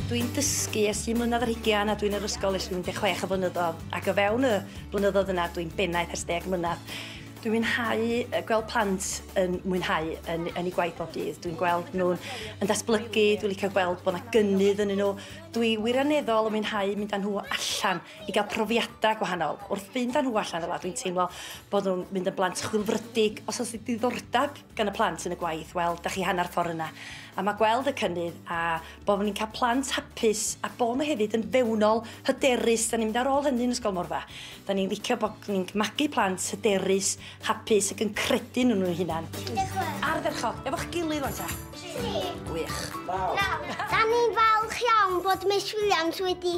Dwi'n dysgu ers un mlynedd ar hugian a dwi'n yr ysgol ers 16 o flynyddoedd ac o fewn y blynyddoedd yna dwi'n bennaeth ers deg mlynedd. Dwi'n mwynhau yy gweld plant yn mwynhau yn yn 'u gwaith bob dydd. Dwi'n gweld nhw'n yn datblygu, dwi'n licio gweld bod 'na gynnydd ynnyn nhw. Dwi wirioneddol yn mwynhau mynd â nhw allan. i gael profiadau gwahanol. Wrth fynd â nhw allan fel 'na, dwi'n teimlo bod nhw'n mynd yn blant chwilfrydig. Os oes 'na ddiddordeb gan y plant yn y gwaith, wel, 'da chi hanner ffordd yna. A mae gweld y cynnydd a bod ni'n cael plant hapus a bod nhw hefyd yn fewnol, hyderus, 'da ni'n mynd ar ôl hynny yn Ysgol Morfa. 'Da ni'n licio bod ni'n magu plant hyderus, hapus ac yn credu yn nhw'n hunan. Ardderchog. Efo'ch gilydd wan ta. Tri. Gwych. Naw. Naw. 'Da ni'n falch iawn bod Miss Williams wedi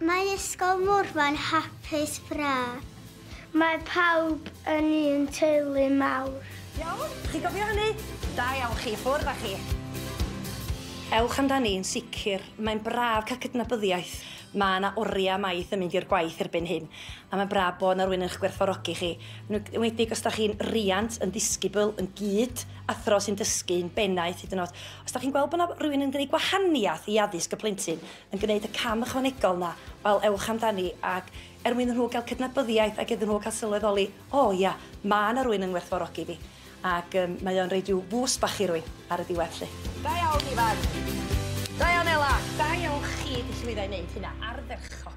Mae Ysgol Morfa'n hapus braf. Mae pawb yn un teulu mawr. Iawn? Chi gofio hynny? Da iawn chi, ffwrdd a chi. Ewch amdani, yn sicr. Mae'n braf cael cydnabyddiaeth. Mae 'na oriau maith yn mynd i'r gwaith erbyn hyn, a mae'n braf bod 'na rywun yn eich gwerthfawrogi chi, yn enwedig os dach chi'n riant, yn ddisgybl, yn gyd, athro sy'n dysgu, yn bennaeth hyd yn oed. Os dach chi'n gweld bod 'na rywun yn gwneud gwahaniaeth i addysg y plentyn, yn gwneud y cam ychwanegol 'na, wel, ewch amdani, ac er mwyn i nhw gael cydnabyddiaeth ac iddyn nhw gael sylweddoli, 'O, ia, mae 'na rywun yn ngwerthfawrogi fi', ac yym mae o'n rhoi rhyw fŵst bach i rywun ar y diwedd 'lly. Da iawn, Ifan! Da iawn, Ela! Da iawn chi 'di llwyddo i wneud hynna, ardderchog!